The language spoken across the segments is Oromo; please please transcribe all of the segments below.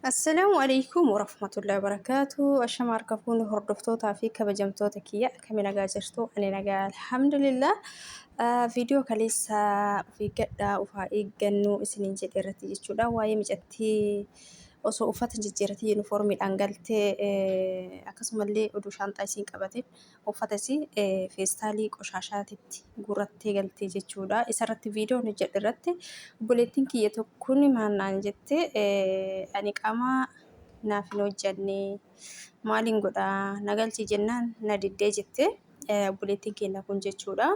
Assalaamu alaikum warahmatullahi wabarakaatu Ashama harka fuuni hordoftootaa fi kabajamtoota kiyya akkami nagaa jirtu ani nagaa alhamdulillah viidiyoo kaleessa of eeggadhaa of haa eeggannuu isiniin jedhe irratti jechuudha waa'ee micattii osoo uffata jijjiiratii yuunifoormiidhaan galtee akkasumallee oduu shaanxaa isiin qabate uffata isii feestaalii qoshaashaatitti guurrattee galtee jechuudha. Isarratti viidiyoo hojjedhe irratti obboleettiin kiyya tokkoon maal naan jette ani qaamaa naaf hin hojjenne maaliin godhaa na galchi jennaan na diddee jette obboleettiin keenya kun jechuudha.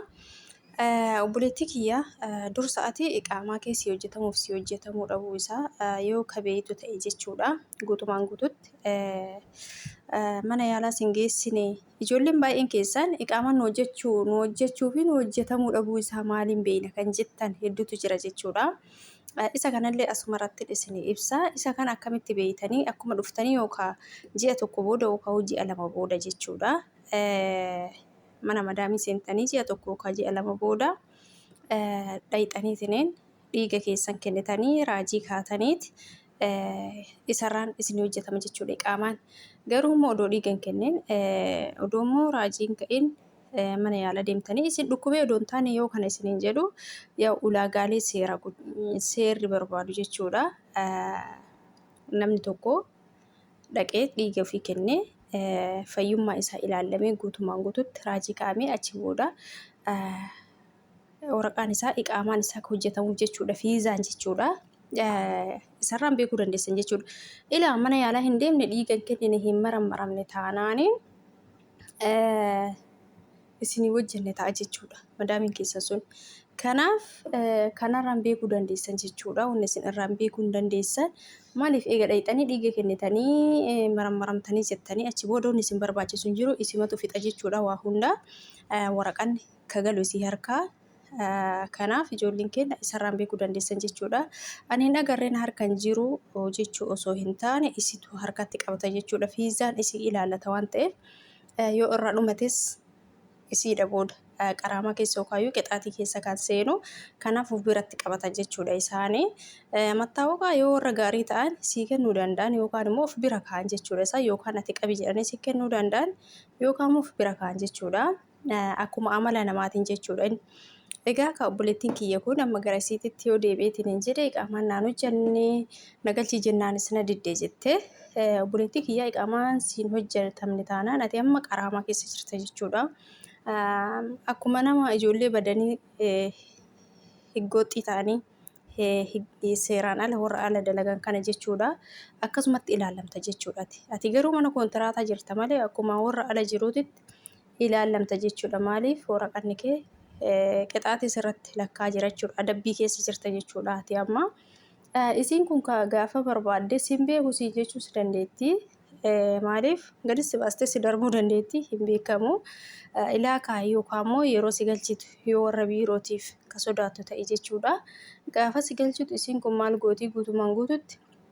Obboleettii kiyya dursa ati qaamaa kee sii hojjetamuuf sii hojjetamuu dhabuu isaa yoo ka beeytu ta'e jechuudha guutumaan guututti mana yaalaa sin geessine ijoolleen baay'een keessan qaamaan nu hojjechuu nu hojjechuu fi nu hojjetamuu dhabuu isaa maaliin beeyna kan jettan hedduutu jira jechuudha. Isa kanallee asuma irratti isin ibsa isa kan akkamitti beeytanii akkuma dhuftanii yookaa ji'a tokko booda yookaa ji'a lama booda jechuudha. mana madaamii seentanii ji'a tokko yookaan ji'a lama booda dhayxanii isineen dhiiga keessan kennitanii raajii kaataniit isarraan isin hojjetama jechuudha qaamaan. Garuu immoo odoo dhiiga hin kennin odoo immoo raajii hin ka'in mana yaala deemtanii isin dhukkubee odoo hin taane yoo kana isiniin jedhu yaa ulaagaalee seera seerri barbaadu jechuudha. Namni tokko dhaqee dhiiga ofii kennee fayyummaa isaa ilaallamee guutumaan guututti raajii kaa'amee achi booda waraqaan isaa iqaamaan isaa akka hojjetamuuf jechuudha fiizaan jechuudha. Isarraan beekuu dandeessan jechuudha. Ilaa mana yaalaa hin deemne dhiiga hin kennine hin marammaramne taanaanii isinii wajjin ni ta'a jechuudha madaamiin keessan sun. Kanaaf kanarraan beekuu dandeessan jechuudha. Wanni isin irraan beekuu hin dandeessan maaliif eega dhayxanii dhiiga kennitanii marammaramtanii jettanii achi booda wanni isin barbaachisu hin jiru isimatu fixa jechuudha waa hundaa waraqaan ka galu isii harkaa kanaaf ijoolleen keenya isarraan beekuu dandeessan jechuudha. Ani hin agarreen harkan jiru jechuu osoo hin taane isitu harkatti qabata jechuudha. Fiizaan isii ilaalata waan ta'eef Yoo irraa dhumates isiidha booda qaraamaa keessa yookaayuu qixaatii keessa kan seenu kanaaf of biratti qabatan jechuudha isaani. Mattaawaqaa yoo warra gaarii ta'an sii kennuu danda'an yookaan immoo of bira ka'an jechuudha isaa yookaan ati qabi jedhanii sii kennuu danda'an yookaan immoo of bira ka'an jechuudha. Akkuma amala namaatiin jechuudha. Egaa ka obboleettiin kiyya kun amma gara isiititti yoo deebi'eetiin hin jedhe iqaamaan naan hojjanne na galchii jennaanis na didde jette obboleettii kiyyaa iqaamaan siin hojjatamne taanaan ati amma qaraamaa keessa jirta jechuudha. Akkuma nama ijoollee badanii higgooxxii ta'anii seeraan ala warra ala dalagan kana jechuudha. Akkasumatti ilaalamta jechuudha. Ati garuu mana koontiraataa jirta malee akkuma warra ala jiruutitti ilaallamta jechuudha. Maaliif waraqanni kee qixaatii sirratti lakkaa jira jechuudha. Adabbii keessa jirta jechuudha ati amma. Isiin kun gaafa barbaadde siin beeku siin jechuus dandeetti. Maaliif gadi si baastee si darbuu dandeetti hin beekamu. Ilaa kaa yookaan immoo yeroo si galchitu yoo warra biirootiif ka sodaattu ta'e jechuudha. Gaafa si galchitu isiin kun maal gootii guutumaan guututti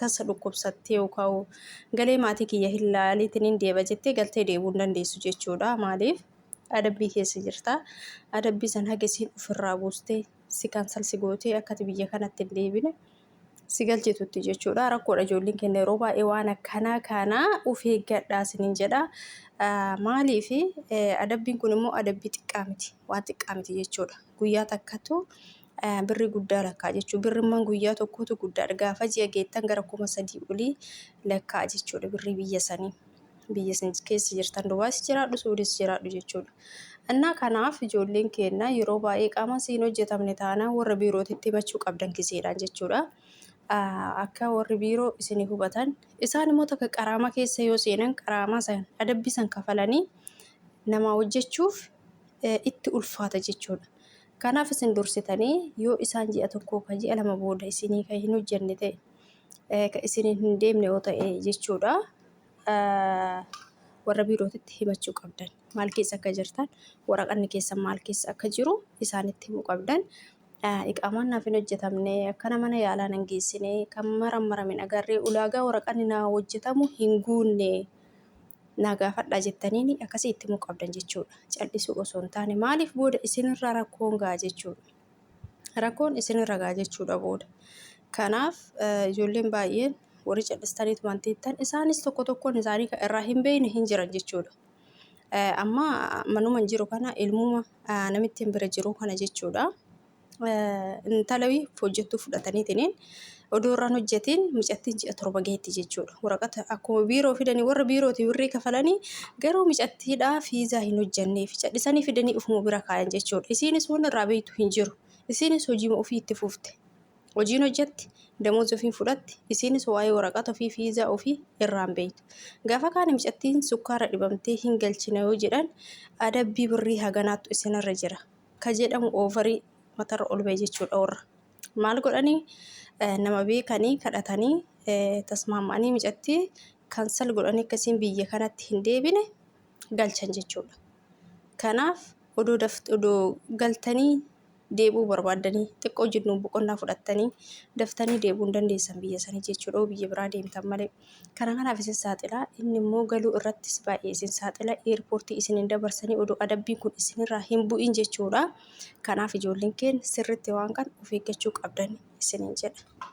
tasa dhukkubsattee yookaan galee maatii kiyya hin laaliitiin hin deeba jettee galtee deebuu hin dandeessu jechuudha. Maaliif? Adabbii keessa jirta. Adabbii san haga isiin ofirraa buustee si kansal si gootee akkati biyya kanatti hin deebine si galchitutti jechuudha. Rakkoodha ijoolleen keenya yeroo baay'ee waan akkanaa kana of eeggadhaa isiniin jedha. Maaliif adabbiin kun immoo adabbii xiqqaa miti waan xiqqaa miti jechuudha. Guyyaa takkatu birrii guddaa lakkaa'a jechuudha. Birrimman guyyaa tokkootu guddaadha. Gaafa ji'a geettan gara kuma sadii olii lakkaa'a jechuudha birrii biyya sanii. Biyya isin keessa jirtan Dubaayis jiraadhu Suudiis jiraadhu jechuudha. Annaa kanaaf ijoolleen keenya yeroo baay'ee qaama isii hin hojjetamne taanaan warra biirootitti himachuu qabdan gizeedhaan jechuudha. Akka warri biiroo isin hubatan isaan immoo takka qaraama keessa yoo seenan qaraamaa san adabbii san kafalanii namaa hojjechuuf itti ulfaata jechuudha. Kanaaf isin dursitanii yoo isaan ji'a tokkoo ka ji'a lama booda isinii ka hin hojjenne ta'e, eh, ka isiniin hin deemne yoo ta'e jechuudha, eh, warra biirootitti himachuu qabdan. Maal keessa akka jirtan, waraqanni keessan maal keessa akka jiru isaanitti himuu qabdan. Eh, Iqaamaan naaf hin hojjetamne, akkana mana yaalaa nan geessine, kan marammarame hin agarre, ulaagaa waraqanni naa hojjetamu hin guunne. naa gaafadhaa jettaniini akkasii itti himuu qabdan jechuudha. Cal'isuu osoo hin taane maaliif booda isinirra rakkoon ga'a jechuudha. Rakkoon isinirra ga'a jechuudha booda. Kanaaf ijoolleen baay'een warri cal'istaniitu waan teettan isaanis tokko tokkoon isaanii kan irraa hin beekne hin jiran jechuudha. Amma manuma hin jiru kana ilmuma namittiin bira jiru kana jechuudha. intala wiif hojjettuu fudhataniitiin odoo irraan hojjetiin mucattiin ji'a torba geetti jechuudha. Waraqata akkuma biiroo fidanii warra biirooti birrii kafalanii garuu mucattiidhaa fiizaa hin hojjennee fi cadhisanii fidanii ufuma bira kaayan jechuudha. Isiinis waan irraa beektu hin jiru. Isiinis hojiima ofii itti fufte. Hojiin hojjetti, damoos ofiin fudhatti, isiinis waa'ee waraqata ofii fiizaa ofii irraan beektu. Gaafa kaana mucattiin sukkaara dhibamtee hin galchina yoo jedhan adabbii birrii haganaattu isinirra jira. ka jedhamu oovarii matarra ol ba'e jechuudha warra. Maal godhanii nama beekanii kadhatanii tasmaamanii micattii kansal godhanii akkasiin biyya kanatti hin deebine galchan jechuudha. Kanaaf odoo daft odoo galtanii deebi'uu barbaaddanii xiqqoo jennuun boqonnaa fudhattanii daftanii deebi'uu hin dandeessan biyya sanii jechuudha biyya biraa deemtan malee. Kana kanaaf isin saaxila, inni immoo galuu irrattis baay'ee isin saaxila, eerpoortii isin hin dabarsanii odoo adabbiin kun isinirraa hin bu'in jechuudha. Kanaaf ijoolleen keenya sirriitti waan kana of eeggachuu qabdan isiniin jedha.